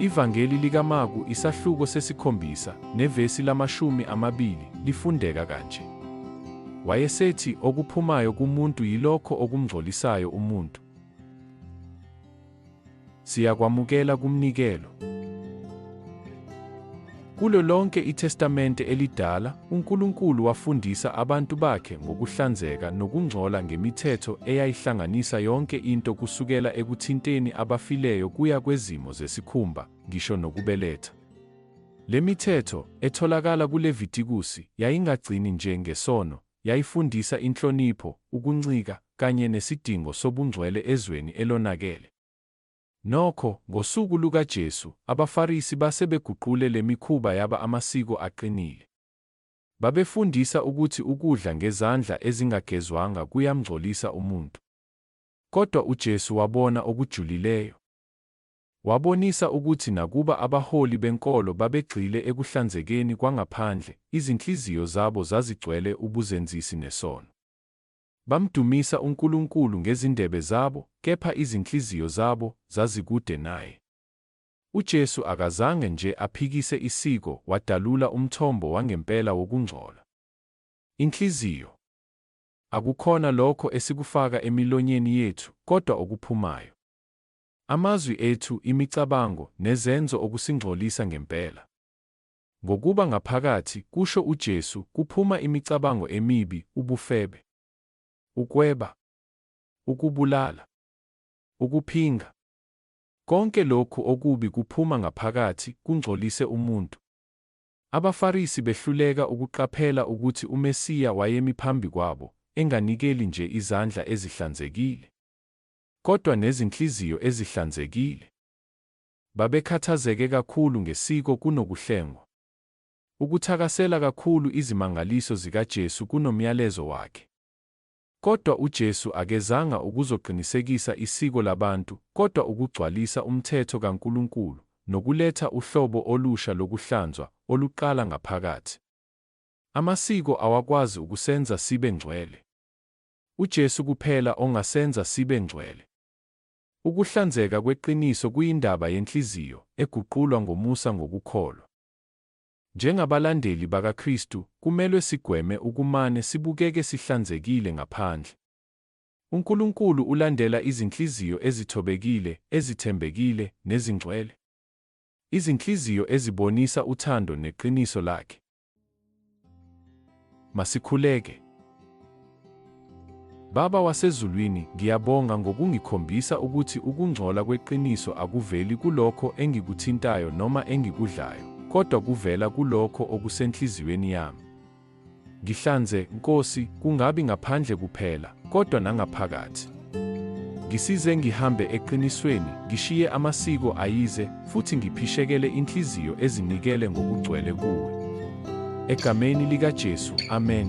Ivangeli likaMaku isahluko sesikhombisa nevesi lamashumi amabili lifundeka kanje. Wayesethi okuphumayo kumuntu yilokho okumngcolisayo umuntu. Siyakwamukela kumnikelo. Kulo lonke iTestamente Elidala, uNkulunkulu wafundisa abantu bakhe ngokuhlanzeka nokungcola ngemithetho eyayihlanganisa yonke into kusukela ekuthinteni abafileyo kuya kwezimo zesikhumba, ngisho nokubeletha. Le mithetho, etholakala kuLevitikusi, yayingagcini nje ngesono, Yayifundisa inhlonipho, ukuncika, kanye nesidingo sobungcwele ezweni elonakele. Nokho, ngosuku lukaJesu, abaFarisi base beguqule le mikhuba yaba amasiko aqinile. Babefundisa ukuthi ukudla ngezandla ezingagezwanga kuyamngcolisa umuntu. Kodwa uJesu wabona okujulileyo. Wabonisa ukuthi nakuba abaholi benkolo babegxile ekuhlanzekeni kwangaphandle, izinhliziyo zabo zazigcwele ubuzenzisi nesono. Bamdumisa uNkulunkulu ngezindebe zabo, kepha izinhliziyo zabo zazikude naye. UJesu akazange nje aphikise isiko, wadalula umthombo wangempela wokungcola. Inhliziyo. Akukhona lokho esikufaka emilonyeni yethu, kodwa okuphumayo. Amazwi ethu, imicabango, nezenzo okusingcolisa ngempela. Ngokuba ngaphakathi, kusho uJesu, kuphuma imicabango emibi, ubufebe, ukweba, ukubulala, ukuphinga. Konke lokhu okubi kuphuma ngaphakathi, kungcolise umuntu. AbaFarisi behluleka ukuqaphela ukuthi uMesiya wayemi phambi kwabo, enganikeli nje izandla ezihlanzekile. kodwa nezinhliziyo ezihlanzekile. Babekhathazeke kakhulu ngesiko kunokuhlengwa, ukuthakasela kakhulu izimangaliso zikaJesu kunomyalezo wakhe. Kodwa uJesu akezanga ukuzoqinisekisa isiko labantu kodwa ukugcwalisa umthetho kaNkulunkulu nokuletha uhlobo olusha lokuhlanzwa oluqala ngaphakathi. Amasiko awakwazi ukusenza sibe ngcwele. UJesu kuphela ongasenza sibe ngcwele. Ukuhlanzeka kweqiniso kuyindaba yenhliziyo, eguqulwa ngomusa ngokukholwa. Njengabalandeli bakaKristu, kumelwe sigweme ukumane sibukeke sihlanzekile ngaphandle. UNkulunkulu ulandela izinhliziyo ezithobekile, ezithembekile, nezingcwele, izinhliziyo ezibonisa uthando neqiniso Lakhe. Masikhuleke. Baba wasezulwini, ngiyabonga ngokungikhombisa ukuthi ukungcola kweqiniso akuveli kulokho engikuthintayo noma engikudlayo, kodwa kuvela kulokho okusenhliziyweni yami. Ngihlanze, Nkosi, kungabi ngaphandle kuphela, kodwa nangaphakathi. Ngisize ngihambe eqinisweni, ngishiye amasiko ayize, futhi ngiphishekele inhliziyo ezinikele ngokugcwele kuwe. Egameni likaJesu, amen.